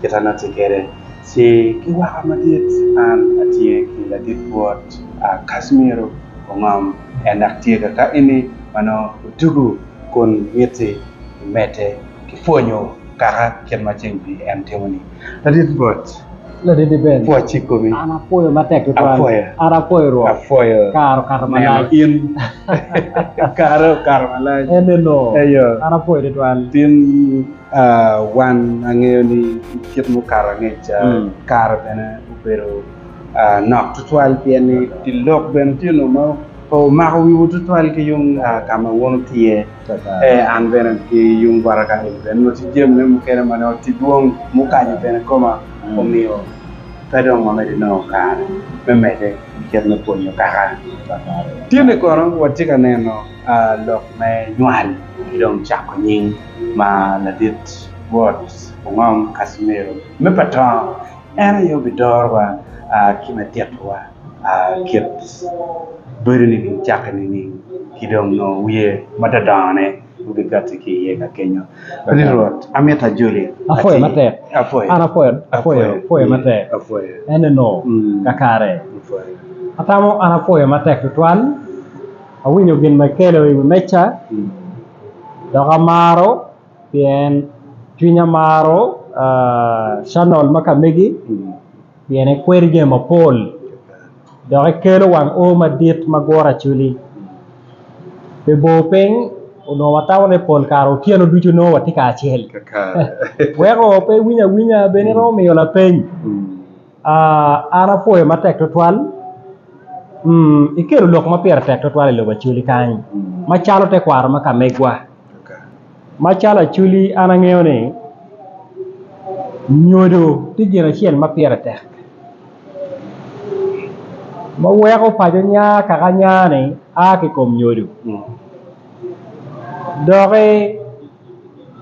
kit an atye kwede, ci ki waka madit an atye ki ladit bwot Casimiro Ongom, en dok tye kaka eni ma nongo otugo kun mitte imedde ki pwonyo kaka kit ma ceng pi en timo-ni. Ladit bwot, pwoc i komi. An apwoyo matek tutwal. Apwoyo neno in. Kare okato malac. Tin. Wan angeyo ni i kit mukato angec ca, kare bene obedo nok tutwal pien ni dye lok bene tye nongo ma pe wumako wiwu tutwal ki yung ka ma wun wutye iye. An bene ki yung bota ka eni bene onongo tye jami mukene ma nongo tye dwong mukanyo bene koma omiyo pe dong wamedo nongo kare me medde i kit me pwonyo kaka tye-ni kono watye ka neno lok me nywal ki dong cako nying. ma ladit bot ongom Casimiro me pa tongo, en aye obidorowa ki me titowa kit bedo ni gin cakke nining ki dong nongo wiye ma dodongone obikati ki iye ka kenyo. Ati Rwot, amito ajoli. Apwoyo matek. Apwoyo. An apwoyo. Apwoyo. Apwoyo matek. Apwoyo. Ene no. Kakare. Apwoyo. Atamo an apwoyo matek tutwal. Awinyo gin ma ikelo iwi meca. Dok amaro pien cwinya maro canal ma ka megi pien ekwedi jami mapol dok ekelo wang o madit ma guro acwili pi bor piny onongo watamo ni pol kare otyeno ducu nongo watye kacel weko pe iwiny awinya bene iromo miyo lapeny. An apwoyo matek twatwal ikelo lok ma pire tek twatwal i lobo Acholi kany macalo tekwaro ma ka megwa macalo Acholi an angeyo ni nyodo tye gin acel ma pire tek ma weko paco nya kaka nya ni a ki i kom nyodo doki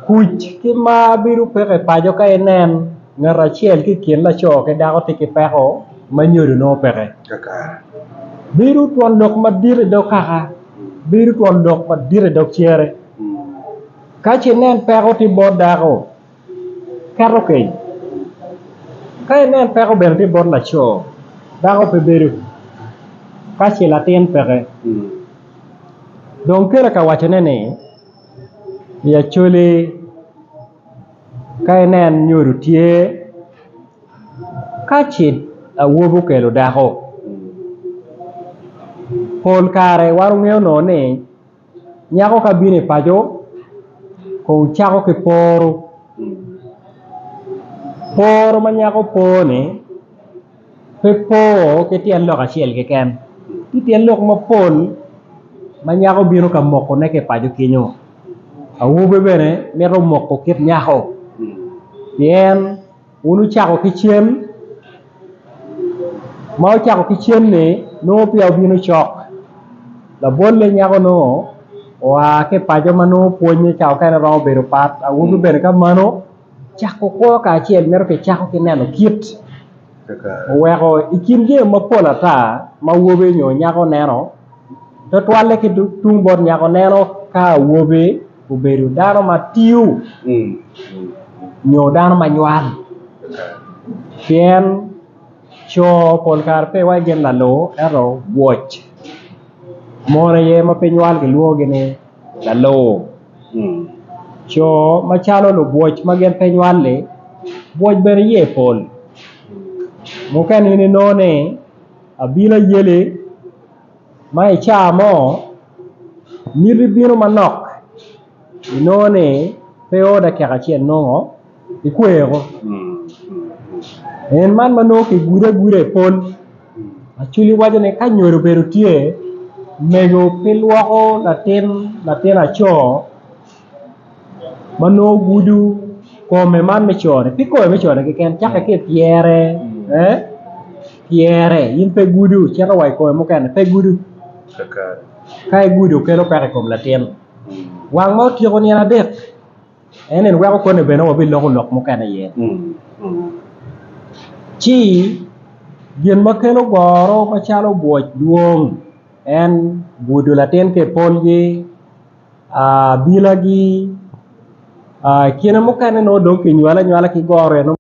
Kuc ki mar bedo peke i paco ka inen ngat acel ki i kin laco ki dako tye ki peko ma nyodo nongo peke bedo twon lok madit i dog kaka bedo twon lok madit i dog cere ka ce inen peko tye bot dako keto keny ka inen peko bene tye bot laco dako pe bedo ka ce latin peke dong kele ka wacone ni. I Acholi ka inen nyodo tye ka ce awobi okelo dako pol kare wan wangeyo nongo ni nyako ka bino i paco kong cako ki poro, poro ma nyako poro-ni pe po ki tyen lok acel keken tye tyen lok mapol ma nyako bino ka mokone ki i paco kenyo awobi bene mito moko kit nyako pien wun wucako ki cen ma wucako ki cen-ni nongo peya wubino cok labolle nyako nongo oa ki i paco ma nongo pwonye ca mukene romo bedo pat awobi bene kamano. Cako kwo kacel mito kicako ki neno kit oweko i kin jami mapol ata ma awobi nyo nyako neno tutwalle ki tung bot nyako neno ka awobi obedo dano ma tiyo nyo dano ma nywal pien co pol kare pe iwaco gin laloo ento woc mon aye ma pe nywal kilwongogi ni laloo. Co macalo lubwoc ma gin pe nywal-li bwoc bene iye pol mukene in inongo ni abino ayeli ma i cawa mo miti bino manok inongo ni pe oda keka ci enongo ikweko en man ma nongo ki gudo aguda i pol acwiny waco ni ka nyodo obedo tye mego pe lwoko latin latin aco ma nongo gudo kome man me cone pe kome me cone keken cakke ki i pyere pyere in pe gudo cito wa i kome mukene pe gudo ka igudo kelo peko i kom latin wang ma otyeko nino adek. En ni weko koni bene wabiloko lok mukene iye. Ci gin ma kelo goro macalo bwoc dwong en gudo latin ki i polgi bilagi kine mukene nongo dong kinywale anywala ki goro eno.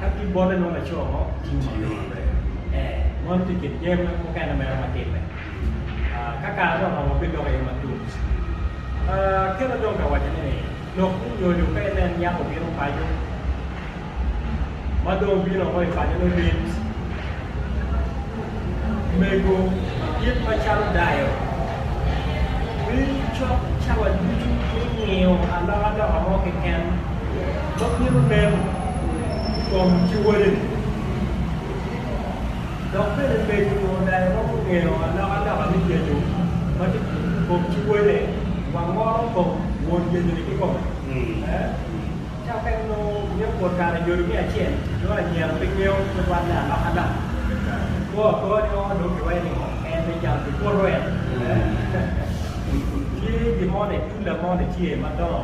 Ka ki bote nongo laco mo otingo ma pire maber. Ee, moni tye i kin jami mukene mere ma timme. Ka kare dong oromo bidok iye matut. Aketo dong ka waco ni, lok me nyodo ka inen yako bino paco, ma dong obino woko i paco nongo lit. mego madit macalo dayo bino cok cawa ducu me ngiyo alokaloka mo keken ma bino nen i kom kiwodeni. Dok bene mego nyo dayo ma gungiyo alokaloka me yecu ma tye i kom kiwode wangoro kong won yecu-ni kikome. Cakke nongo myero obwot kare nyodo miya acel, nongo lanyera pe ngeyo tutwal me alokana kwo akowa ni oo nongo kiwaco ni ngo en me calo ki kuto en tye gin mo ni tula mo ni tye madongo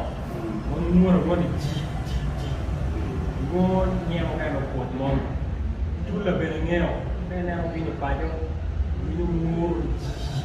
ma nyuto mo ni ji ji ji nwo nge mukene obwot mo ni tula bene ngeyo ka ineno bino paco winyo woro ji ji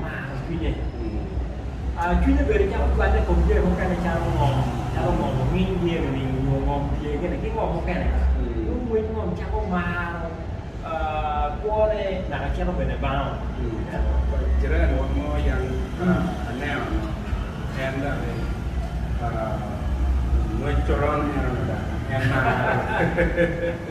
maro cwinye. Cwinye bedo calo cwalle i kom jami mukene calo ngom, calo ngom onginy dyere-ni nyo ngom tye gire ki ngom mukene. Dong ngwec ngom cako maro kwone naka cito bene bango. Jirani wa mo yan aneno onongo en dok ngwec coron en maro.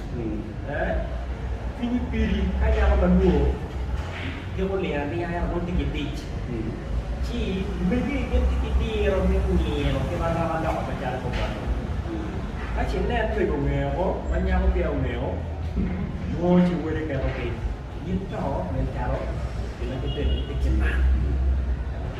Cwinyi piri ka nyako ma lwor giko lingo alinga ento nongo tye ki dic, ci omege gin tye ki diro me nino ki marama loko macalo bongwani. Ka ci inen twego ngeo ma nyako peya ongeo, nongo ci wode keto piny, in to nen calo gin ma kibedoni pe kiman.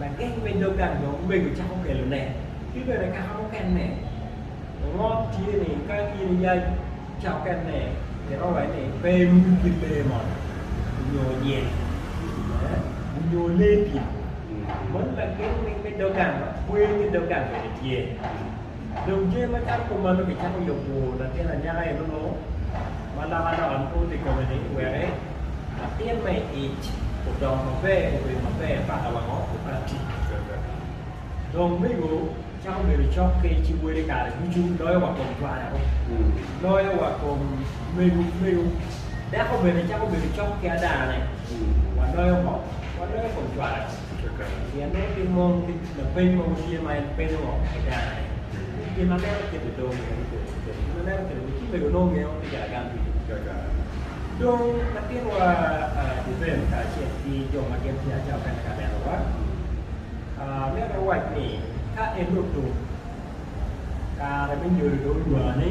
lageng me dog gang dong omego cako kelone, ki bene kaka mukene ongo tye ni ka in iya cawa mukene ni itwero waco ni pe imul ki lee mo nyo nyel nyo lee dyang meno lageng me dog gang ma kwer me dog gang bene tye dong jami macalo kumeno kicako yubo latin anyaka enunu ma loko aloka mogo tye i kome ni wek Latin ma i ic odongo maber obedo maber paka wango obati. Dong omego cako bedo cokke ci wele kare ducu loyo wa kom twayao, loyo wa kom mego mego. Dako bene cako bedo cokke adane, waloyo ngo? Waloyo kom twayao. Pien en pe mol ki lapeny mogo tye ma en penyo woko ki dano-ni. Gin ma meno kit-ti dong mito ni kodi kiketi. Gin ma meno kit-ti ni ci mego nongo ngeyo ni gaa gang ducu. Dong latinwa Duvel kacel ki jo ma gin tye acel kene ka nenowa, myero giwac ni, Ka en dong tum, kare me nyodo dong odwani.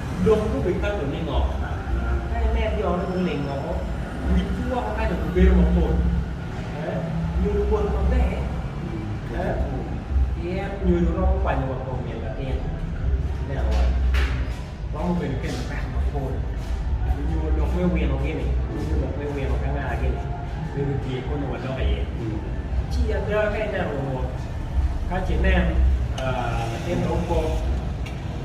lok gubikato ni ngo? Ka inen jone guling woko, wit ki woko ka dong gibedo mapol, nyo luwot maber pien nyodo romo kwanyo wa kom nyen latin. Ineno wa, romo bedo ki lukat mapol nyo lok me wino gi ni, nyo lok me wino ki anga gi ni me gutye koni wa lok iye. Ci ada ka ineno luwot ka ci inen latin dong kok.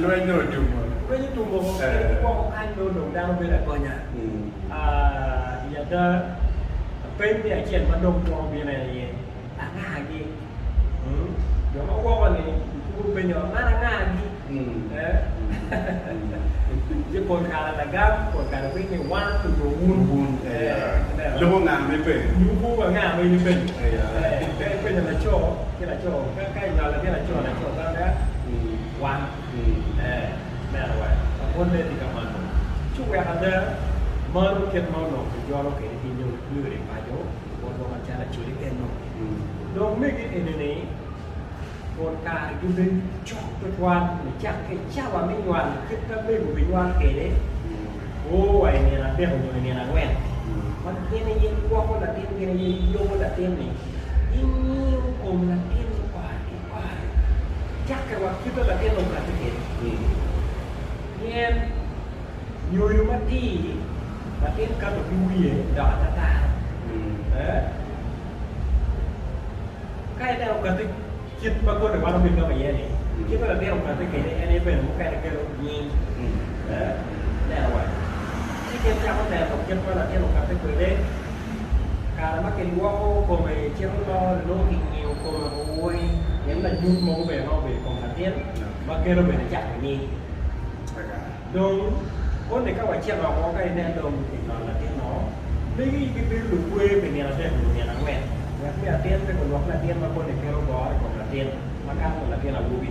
Lweny nyo otumo? Lweny otumo kadi woko kany ma onongo dano bedo agonya. I ada, lapeny me acel ma dong twero bino en aye, Angagi? Jo ma woko-ni gitwero penyo, Man angagi? Ci pol kare lagam, pol kare winyo ni wan onyo wun. Loko nga ma ipenyo? Loko nga ma in ipenyo? Ka ipenyo laco ki laco, ka inywalo ki laco, laco pe ape? Wan ki ee neno wek labolle tye ka manno ci wek ada maro kit ma onongo kijolo kwede ki nyom nyo ri paco labolwa macalo acoli eno. Dong mege ene ni pol kare gibedo cok tutwal ni cak ki cawa me nywal kit ma mego ginywal kwede oo wa i nino adek nyo i nino angwen ma gin aye gwoko latin gin aye yobo latin ni gingiyo kom latin mukwar. Cakke wa ki kit ma latin okatte kwede. Pien nyoyo matir, latin kato ki wiye dok atataro. Ka ineno okatte kit ma kodi wan omege wa iye-ni, kit ma latin okatte kwede en aye bene mukene kelo nying. Neno wa, ci gin cako neno kit ma latin okatte kwede. kare ma kilwoko kome cito lor nongo kingiyo kome woko woi pien lanyut mogo bene romo bedo i kom latin ma keno bene cako nying dong koni ka wacito woko ka inen dong kinyono latin o megi gibedo lukwer pi nino adek nyo nino angwen wek me atin pe gulwok latin ma koni keno goro i kom latin makato latin awobi.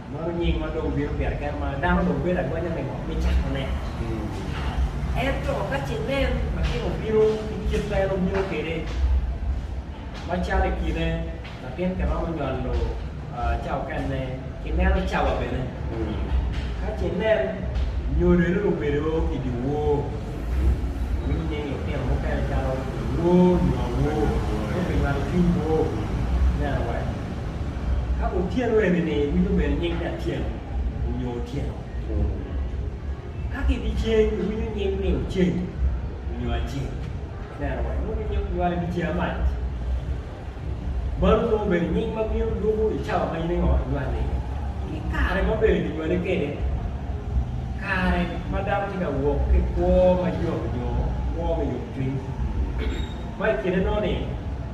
Mano nying ma dong bino pire kene ma dano dong bedo agonya me ngo? Me cakone. Ento ka ce nen ma gin obino ki kit ma en obino kwede, macalo i kine latin kiromo nyolo ca okenne, ki neno cawa bene. Ka ce nen nyodere obedo i dye wor, iwinyo nying lutino mukene calo Awor nyo Awor, nyo kinywato cwiny wor. Ineno wa? Ka otyeno eni-ni iwinyo bene nying Acel onyo Otyeno Ka ki dyeceng iwinyo nying ni Oceng onyo Aceng Ineno wa inongo ginyuto nywalo i dyeceng amac Mano nongo bene nying ma bino lubo i cawa ma in ingo inywal iye Ki kare ma bene kinywali kwede Kare ma dano tye ka wok ki kwo ma yot onyo kwo me yomcwiny Ma i kine noni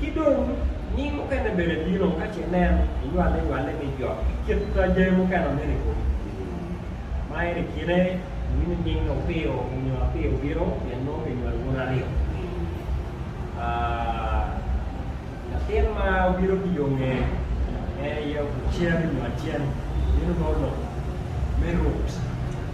Ki dong, ni mukene bene bino ka ce nen inywale nywale ni jok ki kit jami mukene ma mene kodi tye. Ma en ikine iwinyo nying ni Opiyo nyo Apiyo obino pien nongo ki nywalo wun aryo ki latin ma obino ki yo nge en aye ocen nyo acen obino nongo lok me rut.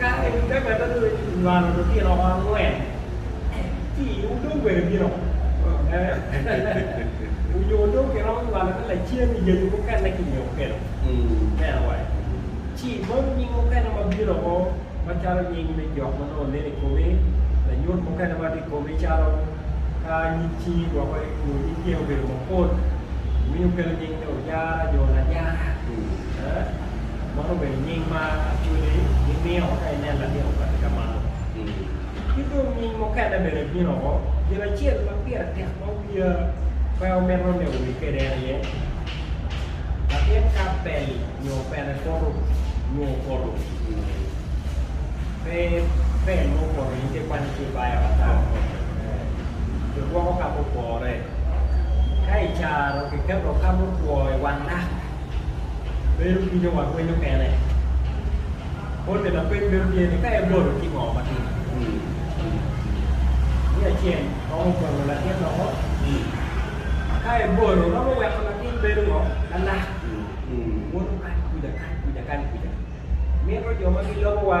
Kare ni ka ngat adwogi ni kinywalo lutino oko angwen ki i wu dong bene bino onyo dong kiromo nywalo ki lacen i yayu mukene ki nge okello me awai ci manu nying mukene ma bino oko ma calo nying me jo ma nongo nene i komi lanyut mukene ma tye i komi calo ka nyig cingi gwoko nyo nyig tyeni obedo mapol winyo kelo nying ni Ojara nyo Lajara. Meno obedo nying ma Acholi gimiyo ka inen latin okati ka malo. Ki dong nying mukene bene ebino woko. Gin acel ma pire tek ma wiya pe omito ni owi kwede en aye latin ka bel nyo pene poto nyo opoto, pe bel ma opoto in ka ikwanyo ci ibayo ata, kigwoko ka mupore. Ka icaro kiketo ka mutwo i wang lak. bedo ki jo ma pwinyo kene. Bolle lapeny bedo tye ni ka ebolo ci ngo ma tye. Ni acel romo bolo latin loko ka ebolo romo weko latin bedo ngo lalak woto kany kuca kany kuca kany kuca mito jo ma gilobo wa.